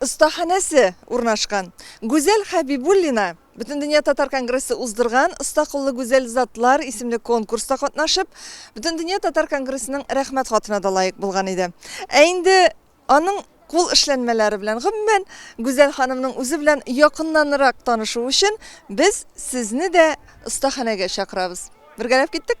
остаханәсе урнашкан. Гүзәл Хәбибуллина Бөтендөнья татар конгрессы уздырган Оста куллы гүзәл затлар исемле конкурста катнашып, Бөтендөнья татар конгрессының Рәхмәт хатына да лаек булган иде. Ә инде аның кул эшләнмәләре белән, гомумән, Гүзәл ханымның үзе белән якыннанрак танышу өчен без сезне дә остаханәгә чакырабыз. Бергәләп киттек?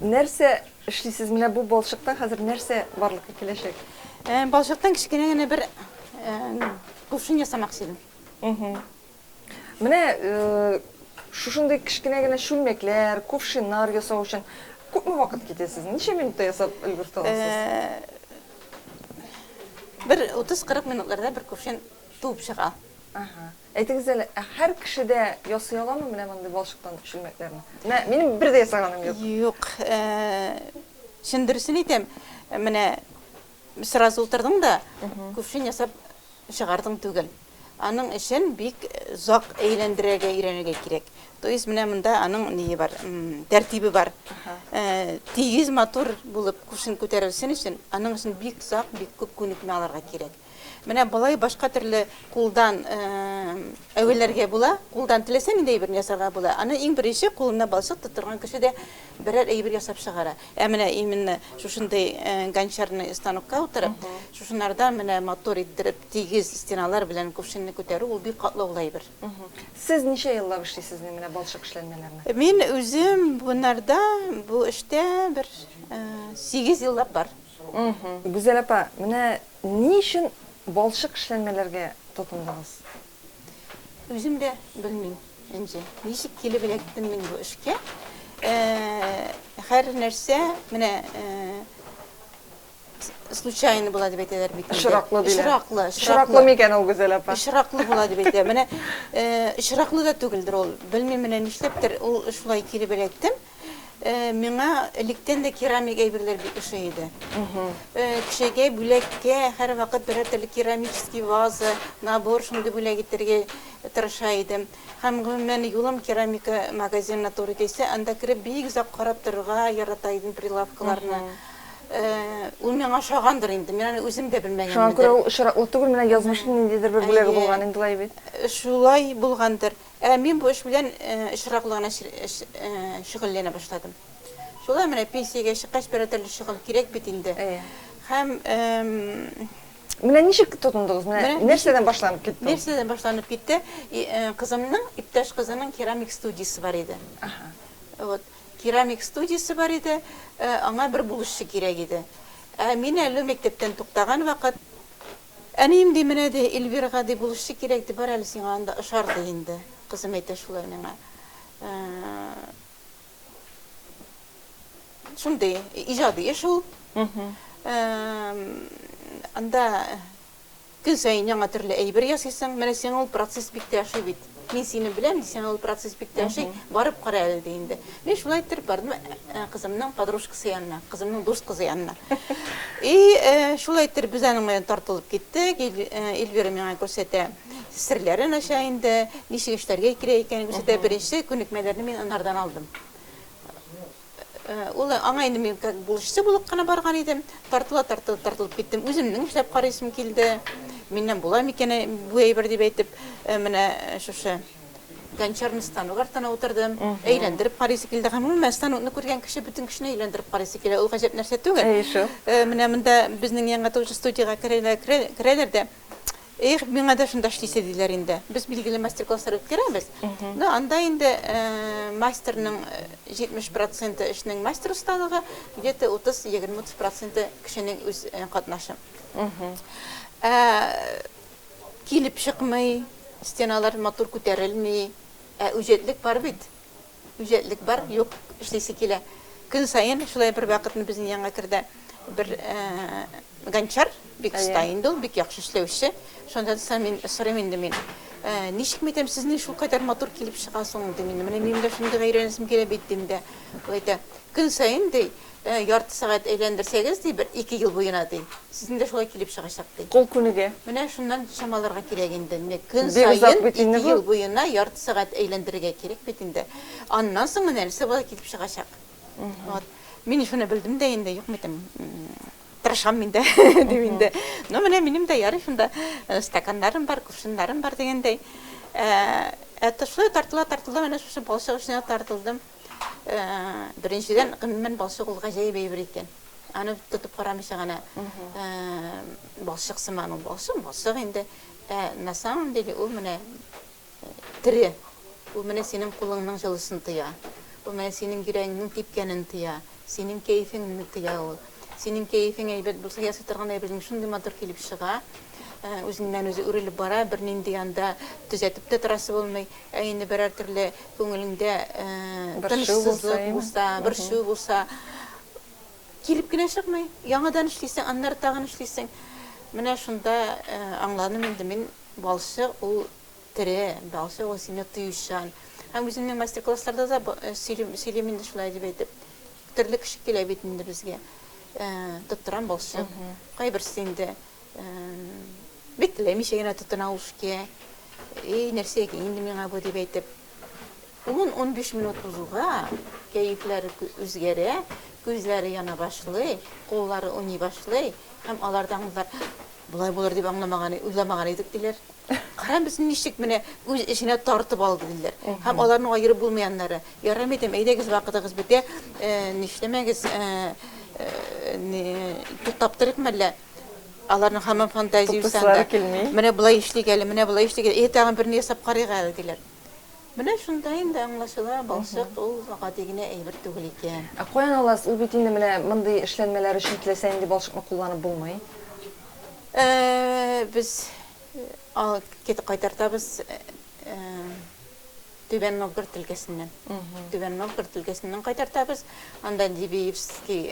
Нәрсә эшлисез? Менә бу балчыктан хәзер нәрсә барлыкка киләчәк? Ә, балчыктан кечкенә генә бер ә, кувшин ясамакчы идем. Угу. Менә э, шушындый кечкенә генә чүлмәкләр, кувшиннар ясау өчен күпме вакыт китә сезнең? Ничә минутта ясап өлгертә аласыз? Э, Бер 30-40 минутларда бер кувшин туып чыга. Ага. Әйтегез әле, ә һәр кеше дә ясый аламы менә мондый балчыктан чүлмәкләрне? Менә минем бер дә ясаганым юк. Юк, чын дөресен әйтәм, менә сразу утырдың да, кувшин ясап чыгардың түгел. Аның өчен бик зак әйләндерергә өйрәнергә кирәк. То есть менә монда аның ние бар, тәртибе бар. Тигез матур булып кувшин күтәрелсен өчен, аның өчен бик зак, бик күп күнекмә алырга кирәк. Менә болай башка төрле кулдан әвәләргә була. Кулдан теләсә нинди әйберне ясарга була. Аны иң беренче кулына балчык тоттырган кеше дә берәр әйбер ясап чыгара. Ә менә именно шушындый гончарный станокка утырып, шушынардан менә матур иттереп, тигез стеналар белән кувшинны күтәрү ул бик катлаулы әйбер. Сез ничә еллап эшлисез менә балчык эшләнмәләрне? Мин үзем бунарда, бу эштә бер сигез еллап бар. Гүзәл апа, менә ни өчен балчык эшләнмәләргә тотындыгыз? Үзем дә белмим, Энҗе. Ничек килеп эләктем мин бу эшкә. Һәр нәрсә менә случайно була дип әйтәләр бит. Очраклы диләр. Очраклы. Очраклы микән ул, Гүзәл апа? Очраклы була дип әйтә. Менә очраклы да түгелдер ул. Белмим, менә нишләптер ул шулай килеп эләктем. Миңа электән дә керамик әйберләр бик ошый иде. Кешегә бүләккә һәрвакыт берәр төрле керамический ваза, набор шундый бүләк итәргә тырыша идем. Һәм, гомумән, юлым керамика магазинына туры килсә, анда кереп бик озак карап торырга ярата идем прилавкаларны. Ул миңа ошагандыр инде, мин аны үзем дә белмәгәнмен. Шуңа күрә ул очраклы түгел, менә язмышның ниндидер бер бүләге булган инде лай бит. Шулай булгандыр. Ә мин бу эш белән очраклы гына шөгыльләнә башладым. Шулай менә пенсиягә чыккач, берәр төрле шөгыль кирәк бит инде. Һәм Менә ничек тотындыгыз? Менә нәрсәдән башланып китте? Нәрсәдән башланып китте? Кызымның, иптәш кызының керамик студиясе бар иде. Вот. Керамик студиясе бар иде, аңа бер булышчы кирәк иде. Ә мин әле мәктәптән туктаган вакыт, Әнием, ди, менә, ди, Эльвирага, ди, булышчы кирәк, ди, бар әле сиңа анда ошар, ди инде. Кызым әйтә шулай миңа. Шундый иҗади эш ул. Анда көн саен яңа төрле әйбер ясыйсың. Менә сиңа ул процесс бик тә ошый бит. Мин сине беләм, ди, сиңа ул процесс бик тә ошый, барып кара әле, ди инде. Мин шулай иттереп бардым кызымның подружкасы янына, кызымның дус кызы янына. И, шулай иттереп без аның белән тартылып киттек. Эльвира миңа күрсәтә, серләрен ача инде, ничек эшләргә кирәк икәнен күрсәтә. Беренче күнекмәләрне мин анардан алдым. Ул аңа инде мин как булоччы булып кына барган идем. Тартыла тартыла тартылып киттем. Үземнең эшләп карыйсым килде. Миннән була микән бу әйбер дип әйтеп, менә шушы гончарный станок артына утырдым. Әйләндереп карыйсы килде. Гомумән, станокны күргән кеше бөтен кешене әйләндереп карыйсы килә. Ул гаҗәп нәрсә түгел. Әйе шул. Менә монда безнең Яңа творчество студиягә керәләр дә, Эх, миңа да шунда эшлисе, диләр инде. Без билгеле мастер-класслар үткәрәбез, но анда инде мастерның 70 проценты эшнең мастер осталыгы, где-то 30, егерме утыз проценты кешенең үз катнашы. Ә килеп чыкмый, стеналар матур күтәрелми, ә үҗәтлек бар бит. Үҗәтлек бар, юк, эшлисе килә. Көн саен шулай бервакытны безнең янга керде бер Гончар, бик оста инде ул, бик яхшы эшләүче. Шунда соң мин сорыйм инде мин, Ничек мәйтәм, сезнең шулкадәр матур килеп чыга соң, дим инде. Менә минем дә шундый гайрәнәсем килә бит, дим дә. Ул әйтә, Көн саен, ди, Ярты сәгать әйләндерсәгез, ди, бер ике ел буена, ди, сезнең дә шулай килеп чыгачак, ди. Кул күнеге. Менә шуннан чамаларга кирәк инде. Менә көн саен ике ел буена ярты сәгать әйләндерергә кирәк бит инде. Аннан соң менә нәрсә болай килеп чыгачак. Вот. Мин шуны белдем дә инде, юкмы дим, тырышам мин дә, дим инде. Ну, менә минем дә ярый шунда стаканнарым бар, кувшиннарым бар дигәндәй. Ә то шулай тартыла-тартыла, менә шушы балчык эченә тартылдым. Беренчедән, гомумән, балчык ул гаҗәеп әйбер икән. Аны тотып карамыйча гына балчык сыман ул. Балчык, балчык инде. Ә на самом деле ул менә тере. Ул менә синең кулыңның җылысын тоя. Ул менә синең йөрәгеңнең типкәнен тоя. Синең кәефең мине тыя ул. Синең кәефең әйбәт булса, ясый торган әйбереңнең шундый матур килеп чыга. Үзеннән-үзе үрелеп бара, бернинди анда төзәтеп тә торасы булмый. Ә инде берәр төрле күңелеңдә тынычсызлык булса, борчу булса, килеп кенә чыкмый. Яңадан эшлисең, аннары тагын эшлисең. Менә шунда аңладым инде мин, балчык ул тере, бәгъсе ул сине тоючан. Һәм үземнең мастер-классларда да э, сөйлим, сөйлим инде шулай дип әйтеп. Төрле кеше килә бит инде безгә. Э, тоттырам балчык. Кайберсе инде э, бик теләмичә генә тотына ул шке. Эй, нәрсә инде миңа бу дип әйтеп. 10-15 минут узуга кәефләре үзгәрә, күзләре яна башлый, куллары уйный башлый һәм алардан Болай булыр дип аңламаган, уйламаган идек, диләр. Кара, без ничек менә үз эченә тартып алды, диләр. Һәм аларның аерып булмый аннары. Ярыймы дим, әйдәгез, вакытыгыз бетә, нишләмәгез, туктап торыйк мәллә. Аларның һаман фантазия уйсанда. Менә болай эшлик әле, менә болай эшлик әле. Әйе, тагын берне ясап карыйк әле, диләр. Менә шунда инде аңлашыла, балчык ул гади генә әйбер түгел икән. Ә каян аласыз? Ул бит инде менә мондый эшләнмәләр өчен теләсә нинди балчыкны кулланып булмый. Ә без кит кайтартабыз Түбән Новгород өлкәсеннән. Түбән Новгород өлкәсеннән кайтартабыз. Анда Дивиевский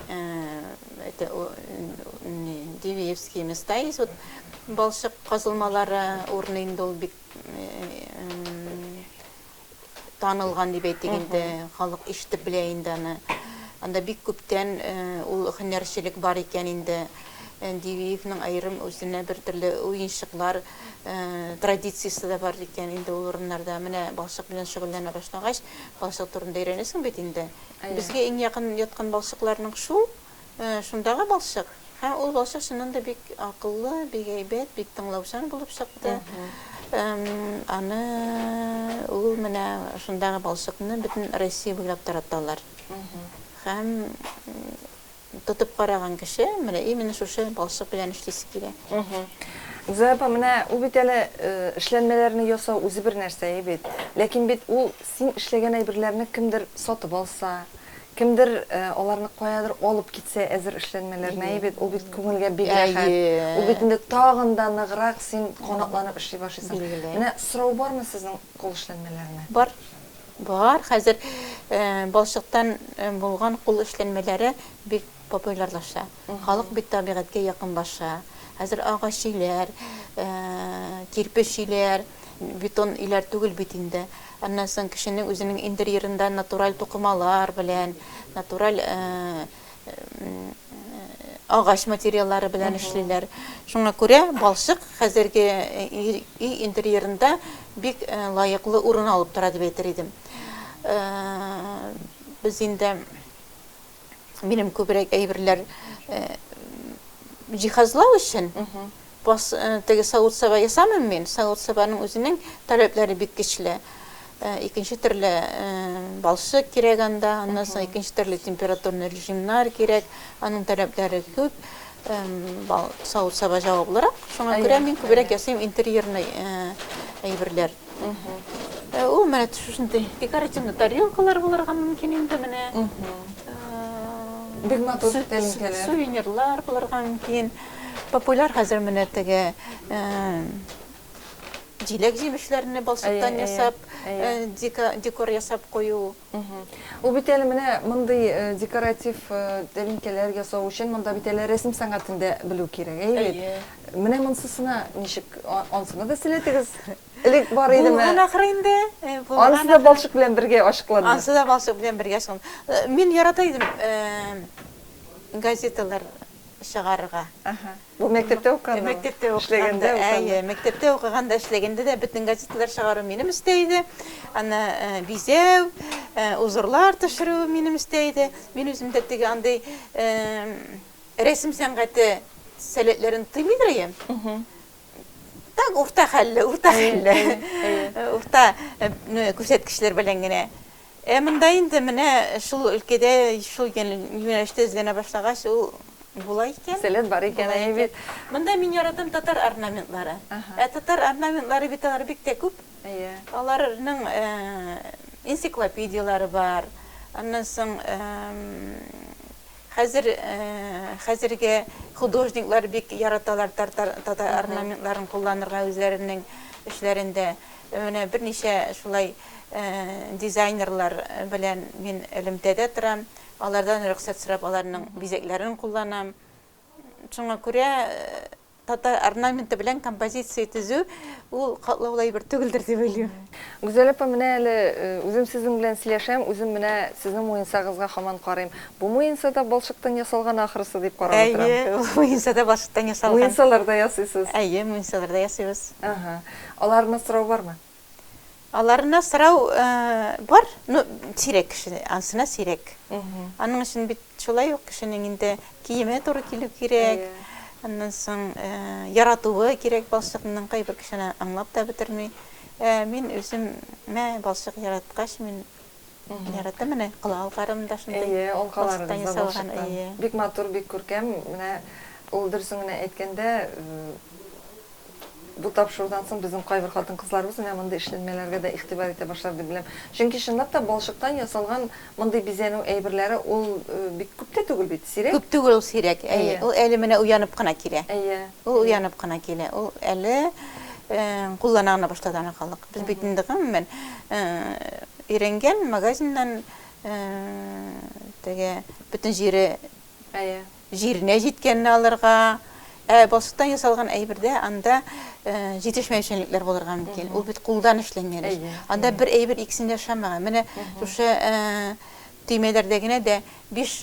это Дивиевский места есть. Вот балчык казылмалары урыны инде ул бик танылган дип әйтик инде, халык ишетеп белә инде аны. Анда бик күптән э, ул һөнәрчелек бар икән инде. Э, Дивиевның аерым үзенә бер төрле уенчыклар э, традициясе дә бар икән инде ул урыннарда. Менә балчык белән шөгыльләнә башлагач, балчык турында өйрәнәсең бит инде. Безгә иң якын яткан балчыкларның шул, Шундагы балчык. Һәм ул балчык чыннан да бик акыллы, бик әйбәт, бик тыңлаучан булып чыкты. Аны ул менә шундагы балчыкны бөтен Россия буйлап тараталар. Һәм тотып караган кеше менә именно шушы балчык белән эшлисе килә. Гүзәл апа, менә ул бит әле эшләнмәләрне ясау үзе бер нәрсә бит. Ләкин бит ул син эшләгән әйберләрне кемдер сатып алса, Кемдер аларны каядыр алып китсә, әзер эшләнмәләр мәе бит, ул бит күңелгә бик рәхәт. Ул бит инде тагын да ныграк син канатланып эшли башлыйсың. Менә сорау бармы сезнең кул эшләнмәләренә? Бар. Бар, хәзер балчыктан булган кул эшләнмәләре бик популярлаша. Халык бит табигатькә якынлаша. Хәзер агач өйләр, кирпеч өйләр, бетон өйләр түгел бит инде. Аннан соң кешенең үзенең интерьерында натураль тукымалар белән, натураль агач материаллары белән эшлиләр. Шуңа күрә балчык хәзерге өй интерьерында бик лаеклы урын алып тора дип әйтер идем. Без инде минем күбрәк әйберләр э, җиһазлау өчен бас э, теге савыт саба ясамыйм мин савыт сабаның үзенең таләпләре бик көчле э, икенче төрле балчык кирәк анда аннан соң икенче төрле температурный режимнар кирәк аның таләпләре күп савыт саба җаваплырак шуңа күрә мин күбрәк ясыйм интерьерный әйберләр Э, ул менә шушындай декоративный тарелкалар булырга мөмкин инде менә. Бик матур тәлинкәләр. Сувенирлар булырга мөмкин. Популяр хәзер менә теге җиләк җимешләрне балчыктан ясап, декор ясап кую. Ул бит әле менә мондый декоратив тәлинкәләр ясау өчен монда бит әле рәсем сәнгатен дә белү кирәк, әйе бит? Әйе. Менә монсысына ничек, ансына да сәләтегез элек бар идеме? Булган ахры инде. Ансы да балчык белән бергә ачыкланды. Ансы да балчык белән бергә ачыкланды. Мин ярата идем газеталар чыгарырга. Бу мәктәптә укыганда? Мәктәптә укыганда, әйе, мәктәптә укыганда, эшләгәндә дә бөтен газеталар чыгару минем өстә иде. Аны бизәү, узорлар төшерү минем өстә иде. Мин үзем дә теге андый рәсем сәнгате сәләтләрен тыймыйдыр идем. Так, урта хәлле, урта хәлле. Урта күрсәткечләр белән генә. Ә монда инде менә шул өлкәдә, шул юнәлештә эзләнә башлагач, ул була икән. Сәләт бар икән, әйе бит. Монда мин яратам татар орнаментлары. Ә татар орнаментлары бит алар бик тә күп. Әйе. Аларның энциклопедияләре бар. Аннан соң хәзер хәзерге художниклар бик яраталар татар орнаментларын кулланырга үзләренең эшләрендә. Менә берничә шулай дизайнерлар белән мин элемтәдә торам, алардан рөхсәт сорап аларның бизәкләрен кулланам. Шуңа күрә татар орнаменты белән композиция төзү ул катлаулы әйбер түгелдер дип уйлыйм. Гүзәл апа, менә әле үзем сезнең белән сөйләшәм, үзем менә сезнең муенсагызга хаман карыйм. Бу муенса да балчыктан ясалган ахрысы дип карап утырам. Әйе, ул муенса да балчыктан ясалган. Муенсалар да ясыйсыз? Әйе, муенсалар да ясыйбыз. Аларыннан сорау бармы? Аларыннан сорау бар, ну сирәк кеше, ансына сирәк. Аның өчен бит шулай ук кешенең инде киеме туры килү кирәк. Аннан соң яратуы кирәк балчыкның, кайбер кешене аңлап та бетерми. Мин үзем мә балчык яраткач, мин Яратам менә кола алкарым да шундый. Әйе, алкаларыбыз да балчыктан. Бик матур, бик күркәм. Менә ул дөресен генә әйткәндә, бу тапшырудан соң безнең кайбер хатын-кызларыбыз менә мондый эшләнмәләргә дә игътибар итә башлар дип беләм. Чөнки чынлап та балчыктан ясалган мондый бизәнү әйберләре ул бик күп тә түгел бит, сирәк. Күп түгел ул сирәк, әйе. Ул әле менә уянып кына килә. Әйе. Ул уянып кына килә. Ул әле куллана гына башлады ана халык. Без бит инде гомумән өйрәнгән, магазиннан теге бөтен җире җиренә җиткәнне алырга, ә балчыктан ясалган әйбердә анда җитешмәүчәнлекләр булырга мөмкин. Ул бит кулдан эшләнгән эш. Анда бер әйбер икесендә ошамаган. Менә шушы төймәләрдә генә дә биш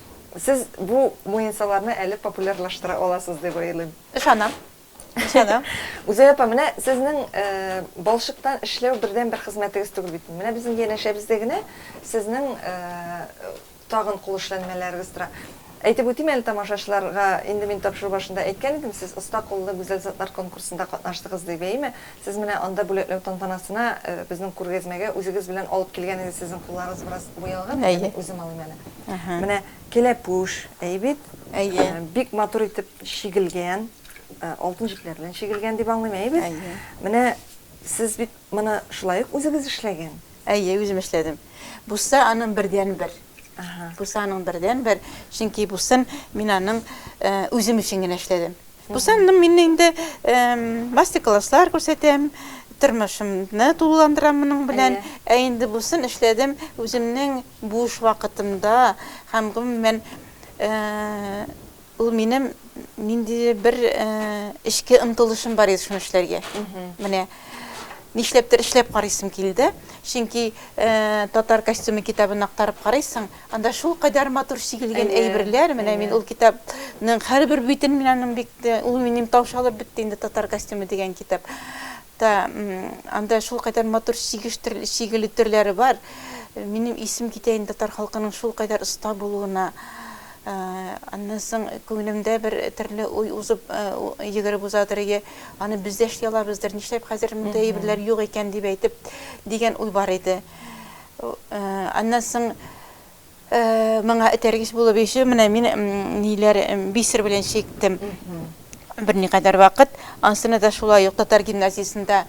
Сез бу муенсаларны әле популярлаштыра аласыз дип уйлыйм. Ышанам. Ышанам. Гүзәл апа, менә сезнең балчыктан эшләү бердәнбер хезмәтегез түгел бит. Менә безнең янәшәбездә генә сезнең тагын кул эшләнмәләрегез тора. Әйтеп үтим әле тамашачыларга, инде мин тапшыру башында әйткән идем, сез Оста куллы гүзәл затлар конкурсында катнаштыгыз дип, әйеме? Сез менә анда бүләкләү тантанасына безнең күргәзмәгә үзегез белән алып килгән иде, сезнең кулларыгыз бераз буялган иде, мин үзем алыйм әле. Менә кәләпүш, әйе бит? Әйе. Бик матур итеп чигелгән, алтын җепләр белән чигелгән дип аңлыйм, әйе бит? Әйе. Менә сез бит моны шулай ук үзегез эшләгән? Әйе, үзем эшләдем. Бусса аның бердәнбер. Бусы аның бердәнбер, чөнки бусын мин аның үзем өчен генә эшләдем. Бусын мин инде мастер-класслар күрсәтәм, тормышымны тулыландырам моның белән. Ә инде бусын эшләдем үземнең буш вакытымда һәм гомумән Ул минем ниндидер бер эчке омтылышым бар иде шуны эшләргә. Менә нишләптер эшләп карыйсым килде. Чөнки татар костюмы китабын актарып карыйсың, анда шул кадәр матур чигелгән әйберләр, менә мин ул китапның һәрбер битен мин аның бик ул минем таушалып бетте инде татар костюмы дигән китап. Та, анда шулкадәр матур чигеш төрле, чигелү төрләре бар. Минем исем китә инде татар халкының шулкадәр оста булуына. Аннан соң күңелемдә бер төрле уй узып, йөгереп узадыр, ие, аны без дә эшли алабыздыр, нишләп хәзер мондый әйберләр юк икән дип әйтеп, дигән уй бар иде. Аннан соң Моңа этәргеч булып ише менә мин ниләр бисер белән чиктем. Берникадәр вакыт. Ансына да шулай ук татар гимназиясендә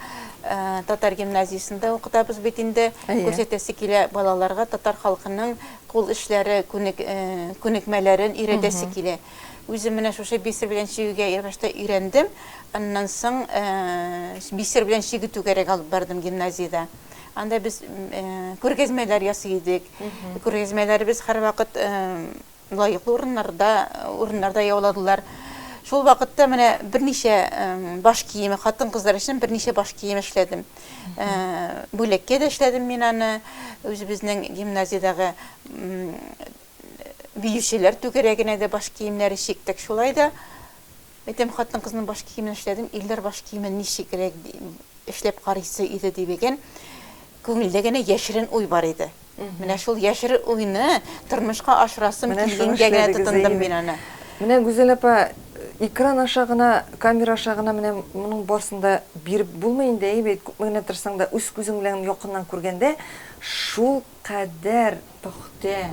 татар гимназиясендә укытабыз бит инде. Күрсәтәсе килә балаларга татар халкының кул эшләре, күнек күнекмәләрен өйрәтәсе килә. Үзем менә шушы бисер белән чигүгә ябышта өйрәндем. Аннан соң бисер белән чигү түгәрәк алып бардым гимназиядә. Анда без күргәзмәләр ясый идек. Күргәзмәләребез һәрвакыт лаеклы урыннарда, урыннарда яуладылар. Шул вакытта менә берничә баш киеме, хатын-кызлар өчен берничә баш кием эшләдем. Бүлеккә дә эшләдем мин аны. Үзебезнең гимназиядәге биючеләр түгәрәгенә дә баш киемнәре чиктек. Шулай да Әйтәм, хатын-кызның баш киемен эшләдем, ирләр баш киемен ничегрәк эшләп карыйсы иде дибеген күңелдә генә яшерен уй бар иде. Менә шул яшерен уйны тормышка ашырасым килгәнгә генә тотындым мин аны. Менә Гүзәл апа, экран аша гына, камера аша гына менә моның барсын да биреп булмый инде, әйе бит, күпме генә тырышсаң да, үз күзең белән якыннан күргәндә, шул Кадәр пөхтә,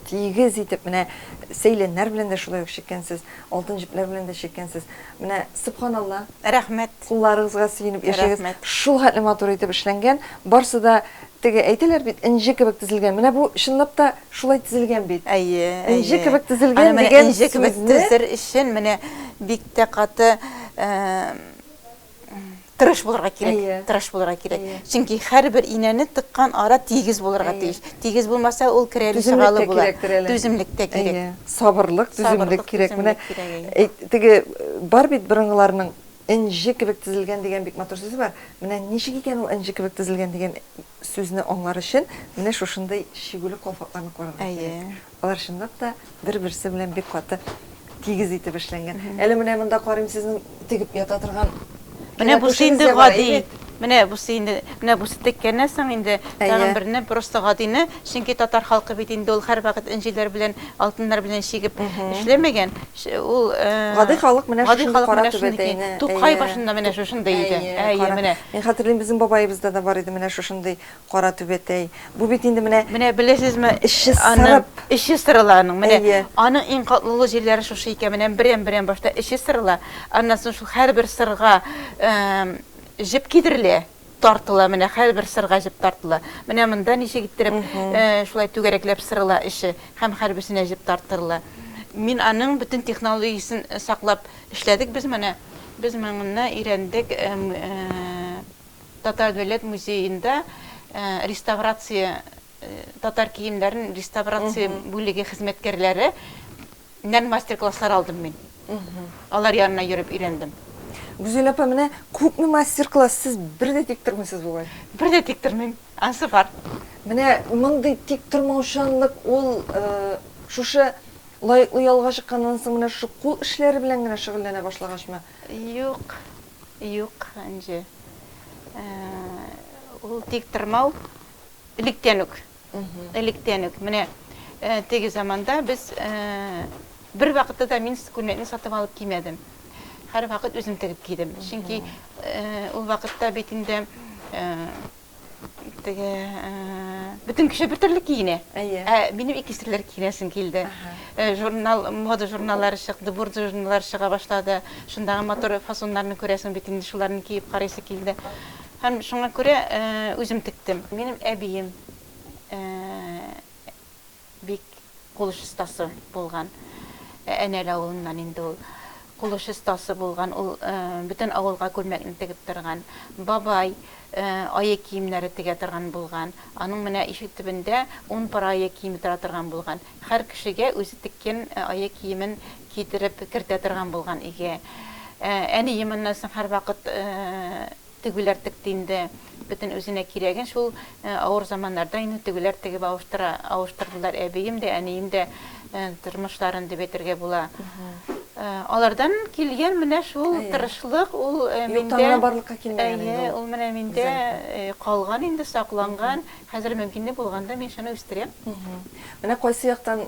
тигез итеп, менә сәйләннәр белән дә шулай ук чиккәнсез, алтын җепләр белән дә чиккәнсез. Менә, сөбханалла. Рәхмәт. Кулларыгызга сөенеп яшәгез. Рәхмәт. Шул хәтле матур итеп эшләнгән. Барсы да, теге әйтәләр бит, энҗе кебек тезелгән. Менә бу чынлап та шулай тезелгән бит. Әйе, әйе. Энҗе кебек тезелгән дигән сүзне. Аны менә энҗе кебек тезер өчен менә бик тә каты, тырыш булырга кирәк. Әйе. Тырыш булырга кирәк. Әйе. Чөнки һәрбер инәне тыккан ара тигез булырга Әйе. тиеш. Тигез булмаса, ул керәле Түземлек чыгалы тә була. кирәктер әле. Түземлек тә кирәк. Әйе. Сабырлык, түземлек Сабырлык, кирәк. Менә түземлек кирәк, әйе. әйт- теге э, бар бит борынгыларның энҗе кебек тезелгән дигән бик матур сүзе бар. Менә ничек икән ул энҗе кебек тезелгән дигән сүзне аңлар өчен менә шушындый чигүле калфакларны карарга Әйе. кирәк. Алар чынлап та бер-берсе белән бик каты тигез итеп эшләнгән. Әле менә монда карыйм сезнең тегеп ята торган Менә бусы инде гади. Менә бусы инде, менә бусы теккәннән соң инде тагын берне просто гадине, чөнки татар халкы бит инде ул һәрвакыт энҗеләр белән, алтыннар белән чигеп эшләмәгән. Ул гади халык менә шундый кара түбәтәйне. Тукай башында менә шушындый иде. Әйе, менә. Мин хәтерлим, безнең бабаебызда да бар иде менә шушындый Кара түбәтәй. Бу бит инде менә Менә беләсезме, эче сырып. Эче сырыла аның. Менә аның иң катлаулы җирләре шушы икән. Менә берәм-берәм башта эче сырыла. Аннан соң шул һәрбер сырга җеп кидерелә, тартыла. Менә һәрбер сырга җеп тартыла. Менә монда ничек иттереп шулай түгәрәкләп сырыла эче һәм һәрберсенә җеп тартырыла. Мин аның бөтен технологиясен саклап эшләдек без моны. Без моннан өйрәндек. Татар дәүләт музеенда реставрация татар киемнәрен реставрация бүлеге хезмәткәрләре нән мастер-класслар алдым мин. Алар янына йөреп өйрәндем. Гүзәл апа, менә күпме мастер-класс, сез бер дә тик тормыйсыз бугай? Бер дә тик тормыйм, ансы бар. Менә мондый тик тормаучанлык ул шушы лаеклы ялга чыкканнан соң менә шушы кул эшләре белән генә шөгыльләнә башлагачмы? Юк, Юк, Энҗе. Ул тиктормау электән үк. Электән үк. Менә теге заманда без бер вакытта да мин күлмәкне сатып алып кимәдем. Һәрвакыт үзем тегеп кидем. Чөнки ул вакытта бит инде теге бөтен кеше бер төрле киенә ә минем ике төрле киенәсем килде журнал мода журналлары чыкты бурда журналлары чыга башлады шундагы матур фасоннарны күрәсең бит инде шуларны киеп карыйсы килде һәм шуңа күрә үзем тектем минем әбием Бик кулыш остасы булган. Әнәл авылыннан инде ул. Кулыш остасы булган ул. Бөтен авылга күлмәкне тегеп торган. Бабай ае киемнәре тегә торган булган. Аның менә ишек төбендә ун пар ае киеме тора торган булган. Хәр кешегә үзе теккән ае киемен китереп кертә торган булган өйгә. Әнием аннан соң һәрвакыт Тегүләр текте инде бөтен үзенә кирәген шул авыр заманнарда инде тегүләр тегеп авыштыра авыштырдылар әбием дә әнием дә тормышларын дип әйтергә була алардан килгән менә шул тырышлык ул миндә барлыкка килмәгән ул менә миндә калган инде сакланган хәзер мөмкинлек булганда мин шуны үстерәм менә кайсы яктан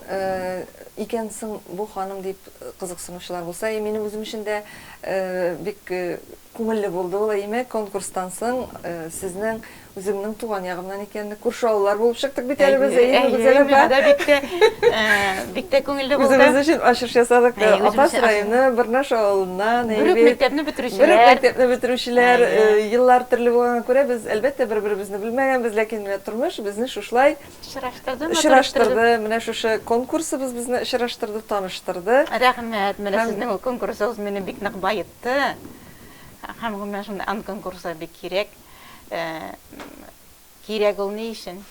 икән соң бу ханым дип кызыксынучылар булса минем үзем өчен дә бик Күңелле булды ул, әйеме? Конкурстан соң сезнең, үземнең туган ягымнан икәнне, күрше авыллар булып чыктык бит әле без, әйеме, Гүзәл апа? Әйе, бик тә, бик тә күңелле булды. Үзебез өчен ачыш ясадык. Апас районы Бырнаш авылыннан, әйе бит. Бер үк мәктәпне бетерүчеләр. Бер үк мәктәпне бетерүчеләр. Еллар төрле булганга күрә, без, әлбәттә, бер-беребезне белмәгәнбез, ләкин менә тормыш безне шушылай. Очраштырды. Очраштырды. Менә шушы конкурсыбыз безне очраштырды, таныштырды. Рәхмәт. Менә сезнең ул конкурсыгыз мине бик нык баетты. чыкты. Һәм гомумән шундый ан конкурслар бик кирәк. Кирәк ул ни өчен?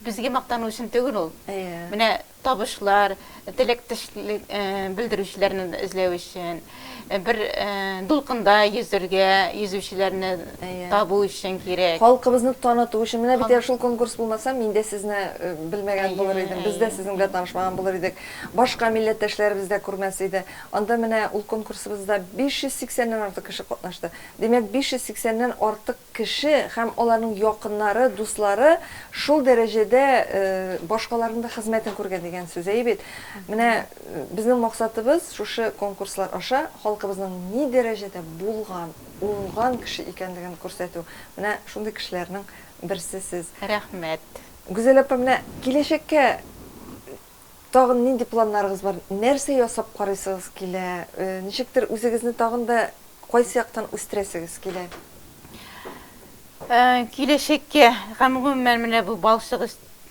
Безгә мактану өчен түгел ул. Менә табышлар, теләк тешлек белдерүчеләрне эзләү өчен, бер дулкында йөзергә, йөзүчеләрне табу өчен кирәк. Халкыбызны таныту өчен. Менә бит әгәр шул конкурс булмаса, мин дә сезне белмәгән булыр идем, без дә сезнең белән танышмаган булыр идек. Башка милләттәшләребез дә күрмәс иде. Анда менә ул конкурсыбызда 580 ннән артык кеше катнашты. Димәк, 580 ннән артык кеше һәм аларның якыннары, дуслары шул дәрәҗәдә башкаларның да хезмәтен күргән дигән сүз. Әйе бит? Менә безнең максатыбыз шушы конкурслар аша халкыбызның ни дәрәҗәдә булган, уңган кеше икәнлеген күрсәтү. Менә шундый кешеләрнең берсе сез. Рәхмәт. Гүзәл апа, менә киләчәккә Тагын нинди планнарыгыз бар? Нәрсә ясап карыйсыгыз килә? Ничектер үзегезне тагын да кайсы яктан үстерәсегез килә? Киләчәккә һәм гомумән менә бу балчык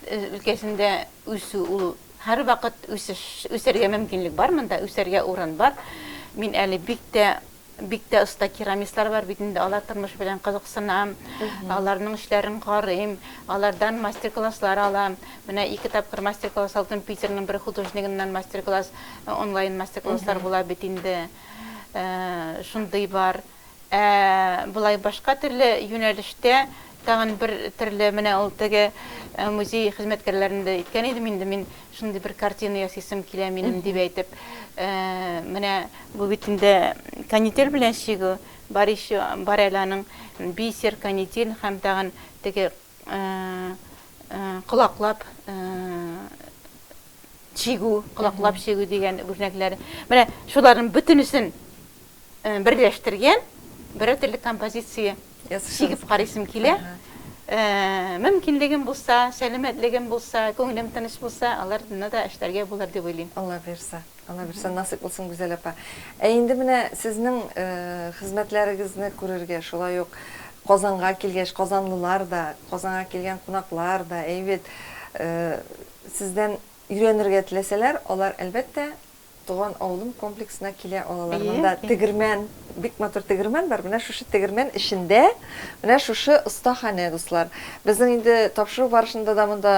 өлкәсендә үсү ул һәрвакыт үсеш, үсәргә мөмкинлек бар монда, үсәргә урын бар. Мин әле бик тә Бик тә оста керамистлар бар бит инде, алар тормыш белән кызыксынам, аларның эшләрен карыйм, алардан мастер-класслар алам. Менә ике тапкыр мастер-класс алдым, Питерның бер художнигыннан мастер-класс, онлайн мастер-класслар була бит инде. Шундый бар. Ә болай башка төрле юнәлештә Тагын бер төрле, менә ул теге музей хезмәткәрләрендә әйткән идем инде мин, шундый бер картина ясыйсым килә минем, дип әйтеп. Менә бу бит инде канитель белән чигү, бар еще, бар әле аның бисер, канитель һәм тагын теге колаклап чигү, колаклап чигү дигән үрнәкләре. Менә шуларның бөтенесен берләштергән бер төрле композиция. Чигеп карыйсым килә. Мөмкинлегем булса, сәламәтлегем булса, күңелем тыныч булса, аларны да эшләргә булыр дип уйлыйм. Алла бирса, Алла бирса, насыйп булсын, Гүзәл апа. Ә инде менә сезнең хезмәтләрегезне күрергә, шулай ук Казанга килгәч, казанлылар да, Казанга килгән кунаклар да, әйбит, сездән өйрәнергә теләсәләр, алар, әлбәттә, Туган авылым комплексына килә алалар. Монда тегермән, бик матур тегермән бар. Менә шушы тегермән эчендә, менә шушы остаханә, дуслар. Безнең инде тапшыру барышында да монда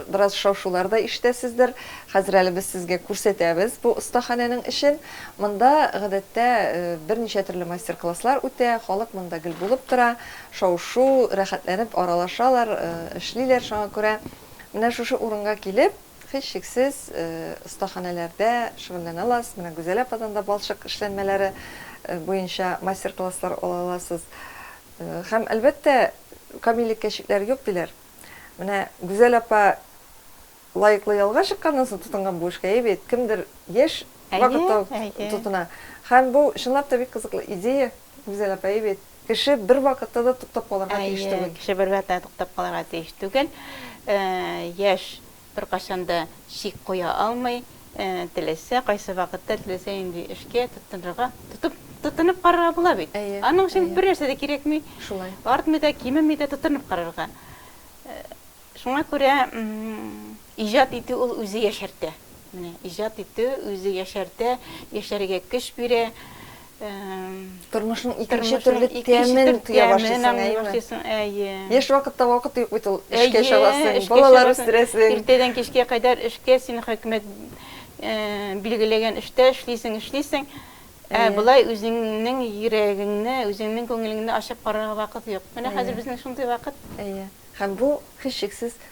бераз шау-шулар да ишетәсездер. Хәзер әле без сезгә күрсәтәбез бу остаханәнең эчен. Монда, гадәттә, берничә төрле мастер-класслар үтә, халык монда гел булып тора, шау-шу, рәхәтләнеп аралашалар, эшлиләр. Шуңа күрә менә шушы урынга килеп, Һичшиксез, остаханәләрдә шөгыльләнә аласыз. Менә Гүзәл ападан да балчык эшләнмәләре буенча мастер-класслар ала аласыз. Һәм, әлбәттә, камиллеккә чикләр юк, диләр. Менә Гүзәл апа лаеклы ялга чыкканнан соң тотынган бу эшкә, әйе бит? Кемдер яшь вакытта ук тотына. Һәм бу, чынлап та, бик кызыклы идея, Гүзәл апа, әйе бит? Кеше бервакытта да туктап калырга тиеш түгел. Әйе, кеше бервакытта да туктап калырга тиеш түгел. Яшь беркайчан да чик куя алмый, теләсә кайсы вакытта, теләсә нинди эшкә тотынырга, тотынып карарга була бит. Аның өчен бернәрсә дә кирәкми. Шулай. Артмый да, кимеми дә, тотынып карарга. Шуңа күрә Иҗат итү ул үзе яшәртә. Менә иҗат итү үзе яшәртә, яшәргә көч бирә. Тормышның икенче төрле тәмен тоя башлыйсың, әйеме? Әйе. Яшь вакытта вакыт юк бит ул, эшкә чабасың, балалар үстерәсең. Иртәдән кичкә кадәр эшкә, син хөкүмәт билгеләгән эштә эшлисең, эшлисең. Ә болай үзеңнең йөрәгеңне, үзеңнең күңелеңне ачып карарга вакыт юк. Менә хәзер безнең шундый вакыт. Әйе. Һәм бу һичшиксез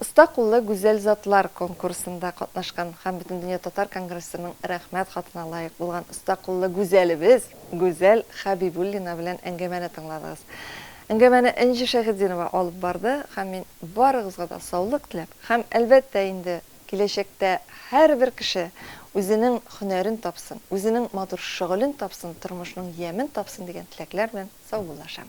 Оста куллы гүзәл затлар конкурсында катнашкан һәм Бөтендөнья татар конгрессының Рәхмәт хатына лаек булган оста куллы гүзәлебез Гүзәл Хәбибуллина белән әңгәмәне тыңладыгыз. Әңгәмәне Энҗе Шәйхетдинова алып барды һәм мин барыгызга да саулык теләп һәм, әлбәттә инде, киләчәктә һәрбер кеше үзенең һөнәрен тапсын, үзенең матур шөгылен тапсын, тормышның ямен тапсын дигән теләкләр белән саубуллашам.